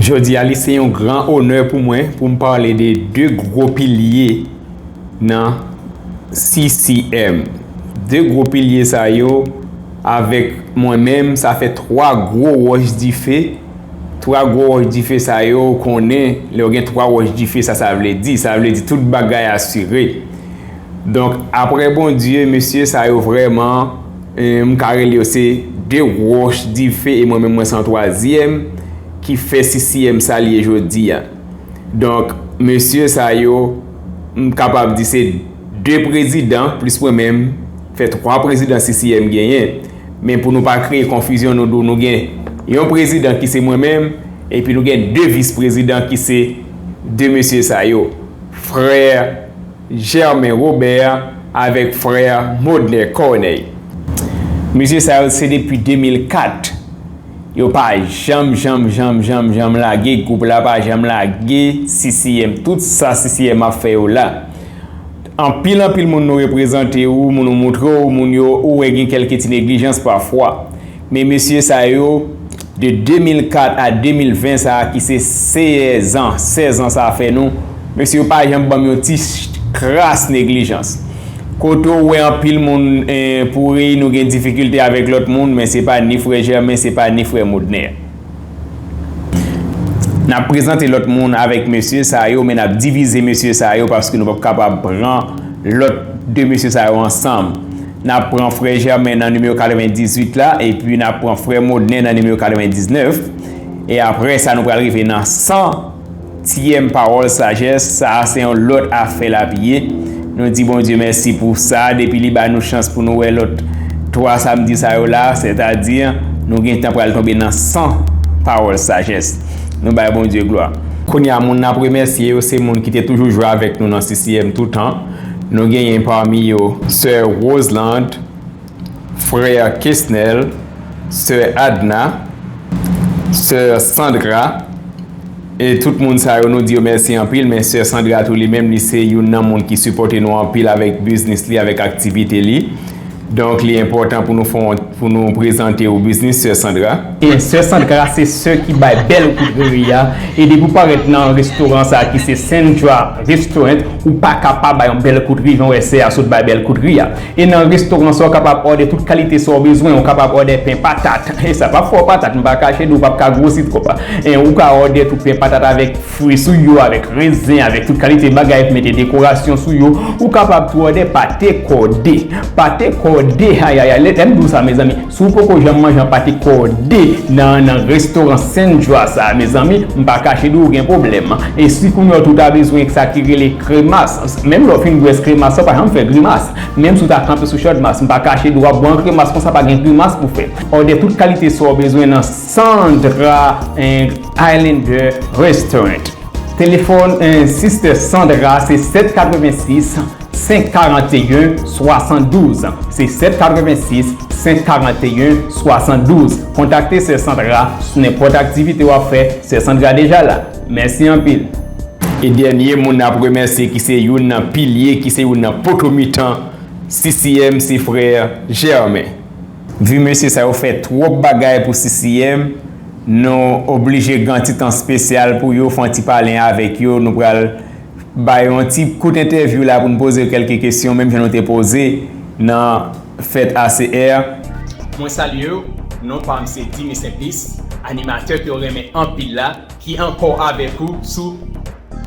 Jodi a li se yon gran onè pou mwen pou m pale de 2 gwo pilye nan CCM. 2 gwo pilye sa yo avèk mwen menm sa fè 3 gwo wòch dife. 3 gwo wòch dife sa yo ou konnen lè ou gen 3 wòch dife sa sa vle di. Sa vle di tout bagay asire. Donk aprè Bondye mesye sa yo vrèman M ka rele yo se de wòch dife e mwen menm mwen se yon twazyèm ki fè CCM sa l ye jodi a. Donk, mesye sa yo, m kapab di se de prezidan plis mwen menm fè twa prezidan CCM genyen. Men pou nou pa kreye konfizyon nou di w nou gen yon prezidan ki se mwen menm epi nou gen de vis prezidan ki se de mesye sa yo, frè. Germain Robert avèk frè Modner Corneille. Mesye sa yo se depi 2004 yo pa janm janm janm janm janm lage gwoup la pa janm lage CCM tout sa CCM ap fè yo la anpil anpil moun nou reprezante ou moun ou moutre ou moun yo ou wè gen kèlke ti neglijans pafwa Men mesye sa yo, de 2004 a 2020 sa ki se 16 an, 16 ans sa fè nou, mesye yo pa janm banm yon ti kras neglijans. Kote w wè anpil moun pouri, nou gen difikilte avèk lòt moun, men se pa ni frè Germain, se pa ni frè Modner. N ap prezante lòt moun avèk mesye sa yo, men n ap divize mesye sa yo paske nou p ap kapab pran lòt 2 mesye sa yo ansanm. N ap pran frè Jèmen nan nimewo 98 la, epi n ap pran frè Modnen nan nimewo 99, e apre sa nou pral rive nan san tièm pawòl sajès, sa a se yon lòt afè l ap ye, nou di Bondye mèsi pou sa, depi li ba nou chans pou nou wè lòt 3 samdi sa yo la, sètadi nou gen tan pral tonbe nan san pawòl sajès. Nou bay Bondye glwa. Kounye a moun n ap remèsye yo se moun ki te toujou jwe avèk nou nan CCM toutan. Nou genyen pami yo sè Roselande, frè Kesnel, sè Adna, sè Sandra e tout moun sa yo nou di yo mèsi anpil men sè Sandra tou li menm li se youn nan moun ki sipòte nou anpil avèk biznis li avèk aktivite li. Donk li enpòtan pou nou fè yon pou nou prezante ou biznis sè Sandra. Ebyen sè Sandra se sè ki bay bèl kout riri a e depi ou parèt nan restoran sa ki se Sandra restaurant ou paka pa bay yon bèl kout ri jan w wè sè a sot bay bèl kout ri a. E nan restoran sa ou kapab òdè tout kalite sa ou bezwen ou kapab òdè pen patat e sa pap fè w patat m pa kache di w ou pap ka gwosi twòp ou ka òdè tou pen patat avèk fri sou yo avèk renzen avèk tout kalite bagay pou mete dekorasyon sou yo ou kapab tou òdè pate kòde pate kòde ayayay lèm di w sa mezanmi si w poko janm manje pate kòde nan nan restoran sendra sa mezanmi m pa kache di w gen pwoblèm e si kounye w tou ta bezwen sa ki rele kremas menm lè w fin bwè kremas sa w pa janm fè grimas menm si w ta kanpe sou chòdmas m pa kache di w w ap bwè yon kremas konsa pa gen grimas pou w fè òdè tout kalite sa w bezwen nan sendra. Highlander Restaurant Telefòn Sister Sandra se 786 541 72 se 786 541 72 Kontakte Sè Sandra sou nenpòt aktivite w ap fè Sè Sandra deja la Mèsi anpil! E dènye moun n ap remèsye ki se youn nan pilye ki se youn nan poto mitan CCM se frè Germain. Vue mesye sa yo fè twop bagay pou CCM nou oblije gan ti tan spesyal pou yo fon ti palen avek yo nou pral bay yon ti kout entèvyou la poun poze yo kelke kesyon menm jan nou te poze nan fèt ACR. Mwen salyew, non pam se Dimy Simplice, animatè kew renmen anpil la. Ki ankò avèk ou sou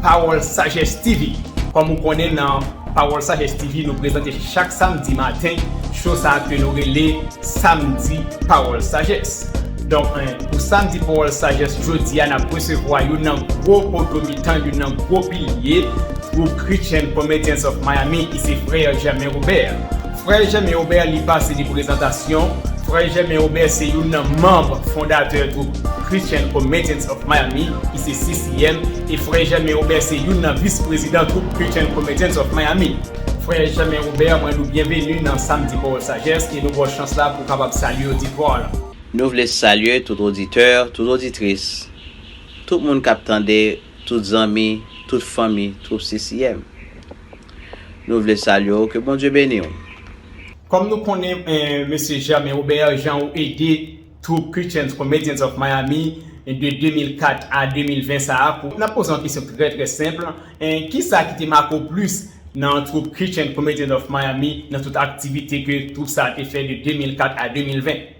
Pawòl Sajès TV. Kòm ou konnen nan Pawòl Sajès TV nou prezante chak samdi maten show sa ke nou rele Samdi Pawòl Sajès. Donk pou Samdi Pawòl Sajès jodi a n ap resevwa youn nan gwo poto mitan, youn nan gwo pilye gwoup Christian Comedians of Miami ki se Frè Germain Robert. Frè Jèmen Obè li pase li prezantasyon. Frè Jèmen Obè se youn nan manb fondatè gwoup Christian Committees of Miami ki se CCM e Frè Jèmen Obè se youn nan vis prezidan gwoup Christian Committees of Miami. Frè Jèmen Obè mwen nou byenveni nan Samdi Pawòl Sajès e nou baw chans la pou kapab salye oditwa lan. Nou vle salye tout oditè, tout oditris, tout moun kap tande. Tout zanmi, tout fanmi twoup CCM. Nou vle salye w ke Bondye beni w. Kòm nou konnen Mesye Germain Robert jan ou ede twoup Christians Comedians of Miami de 2004 a 2020 sa a pou, nap poze yon kesyon ki trè trè senp, kisa ki te make w plis nan twoup Christians Comedians of Miami nan tout aktivite ke twoup sa a te fè de 2004 a 2020?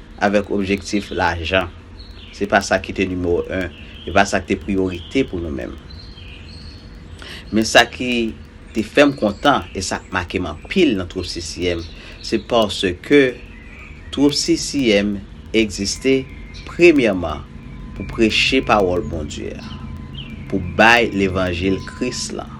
avèk objektif lajan. Se pa sa ki te nimewo 1, e pa sa ki te priyorite pou nou menm. Men sa ki te fè m kontan e sa k make m anpil nan twoup CCM, se paske twoup CCM egziste premyèman pou preche pawòl Bondye a, pou bay levanjil Kris lan.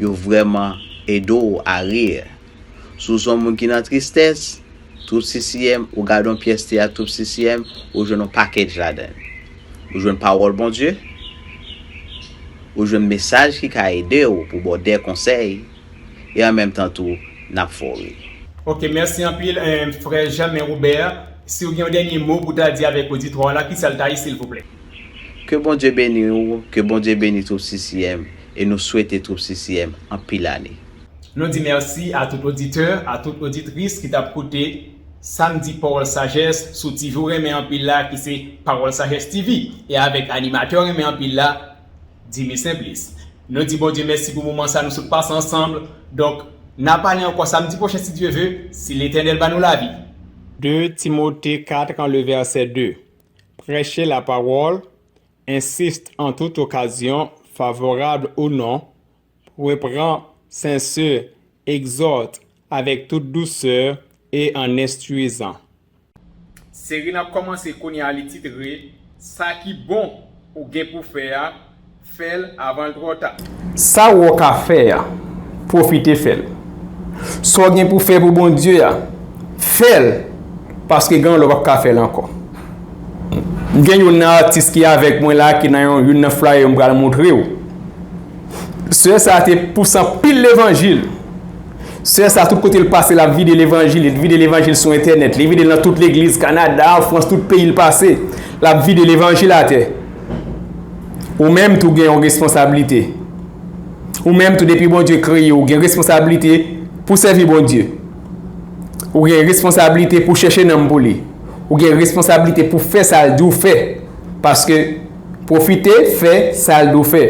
Yo vrèman ede w a rir. Si w se yon moun ki nan tristès, Troupe CCM, ou gade yon pyès teyat Troupe CCM, ou jwenn yon package ladan l. Ou jwenn pawòl Bondye, ou jwenn mesaj ki ka ede w pou ba w de konsèy, e an menm tan tou, n ap fè w ri. Ok mèsi anpil frè Jamin Robert, siw gen yon dènye mo pou ta di avèk oditwa w la kisal ta ye silvouplè? Ke Bondye beni ou, ke Bondye beni Troupe CCM, E nou swete twoup CCM anpil ane. Nou di mèsi a tout oditè, a tout oditris ki tap koute sam di pawòl sajès sou TV w renmen anpil la ki se Pawòl Sajès TV e avèk animatè w renmen anpil la Dimy Simplice. Nou di Bondye mèsi pou moman sa nou sot pase ansanm, donk na pale ankò samdi pwochen si Dye ve, si Letènèl ba nou lavi. 2 Timote 4 an le vèsè 2 Prèche lapawòl, Insiste en toute occasion, favorable ou non, reprend, censure, exhorte, avec toute douceur et en instruisant. Seri n ap kòmanse kounye a li titre Sa ki bon ou gen pou fè a, fè l avan l twò ta. Sa w ka fè a, pwofite fè l. Sa w gen pou fè pou Bondye a, fè l, paske gen yon lè w pap ka fè l ankò. Gen youn nan atis ki avèk mwen la ki nan youn nan flaye yo m pral montre w. Sè sa te pous anpil levanjil. Sè sa tout kote l pase l ap vide levanjil. Li vide levanjil sou entènèt. Li vide l nan tout legliz Kanada, an Frans, tout peyi l pase. L ap vide levanjil atè. Ou menm tou gen yon responsablite. Ou menm tou depi Bondye kreye w gen responsablite pou sèvi Bondye. Ou gen responsablite pou chèche nanm pou li. Ou gen responsablite pou fè sa l di w fè. Paske, pwofite fè sa l di w fè.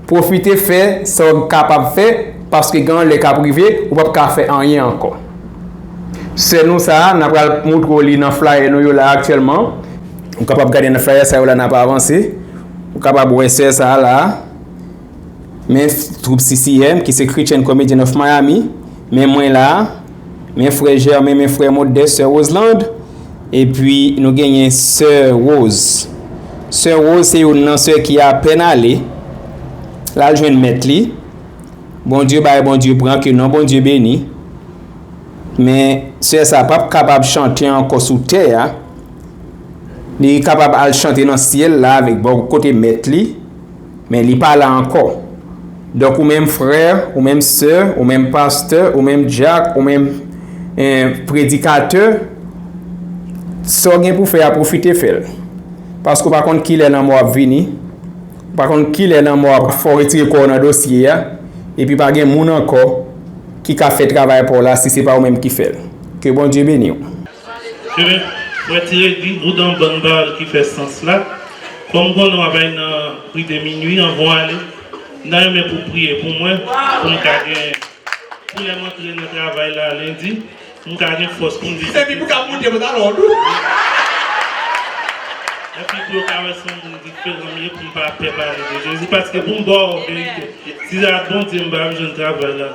Pwofite fè sa w kapab fè paske gen yon lè k ap rive ou pap ka fè anyen ankò. Sè nou sa a, n apral moutre w li nan flayè nou yo la aktyèlman. Ou kapab gade nan flayè sa yo la n ap avanse. Ou kapab wè sè sa a la a. Men troup CCM ki se Christian Comedian of Miami Men mwen la Men frè Germain Men frè Modeste Sè Roselande E pwi nou genyen Sè Rose Sè Rose se yon nan sè ki apèn ale Lal jwenn mèt li Bondye bay Bondye pran ke non Bondye beni Men sè sa pap kapab chante ankò sou tè a Li kapab al chante nan syèl la avèk bò kote mèt li Men li pa la ankò. Donk ou menm frè, ou menm sè, ou menm pastè, ou menm dyak, ou menm predikatè, sa w gen pou fè a pwofite fè l. Paske ou pa konn kilè lanmò ap vini, ou pa konn kilè lanmò ap fè w retire kò w nan dosye a, epi pa gen moun ankò ki ka fè travay pa w la si se pa ou menm ki fè l. Ke Bondye beni w. Humm mwen t redi boudan bann bal ki fè sans la kòm konnen wap al nan prive minwi anvan w ale m ta renmen pou w priye pou mwen pou m ka gen pou lè m antre nan travay la lendi m ka gen fòs pou m vin epi pou w ka monte pantalon w tou epi pou yo ka wè son moun diferan m ye pou m pa pè pale de Jezi paske pou m ba w verite si se ak Bondye m pa ap jwenn travay la.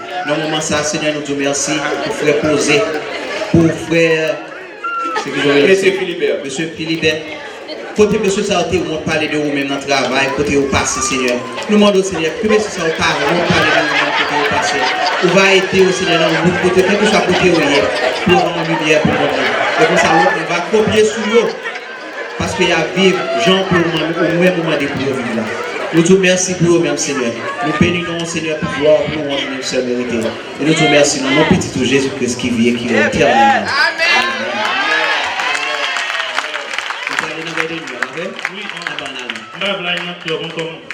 Nan moman sa Senyè nou diw mèsi pou frè Poze pou frè Mesye Philibert Mesye Philibert Kote mesye sa yo te wont pale de ou menm nan travay kote yo pase Senyè Nou mandew Senyè ke mesye sa yo pa wont pale de ou menm kote yo pase Ou va ede yo Senyè nan yon bout kote kelkeswa kote yo ye Pou yo gen yon limyè pou moun nan E konsa lòt moun va kopye sou yo. Paske yap viv Jan w pou ou menm ou mande pou yo viv la nou di w mèsi pou yo menm Senyè nou beni non w Senyè pou glwa pou louwanj ou menm sèl merite l e nou di w mèsi nan non pitit ou Jezi Kris ki vi e ki rèn etènèlman Amen.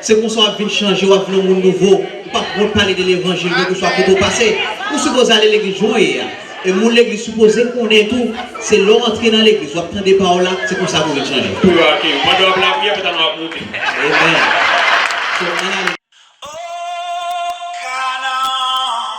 Se konsa wap vin chanje wap vin yon moun nouvo ou pap wont pale de levanjil kelke swa kote ou pase ou sipoze ale legliz jan w ye a e moun legliz sipoze konnen tou se lè w antre nan legliz wap tande pawòl la se konsa pou vin chanje. Pou yo akeyi w. Pandan wap lapriyè pantalon ap moute. Amen so ann ale. Oh Canaan.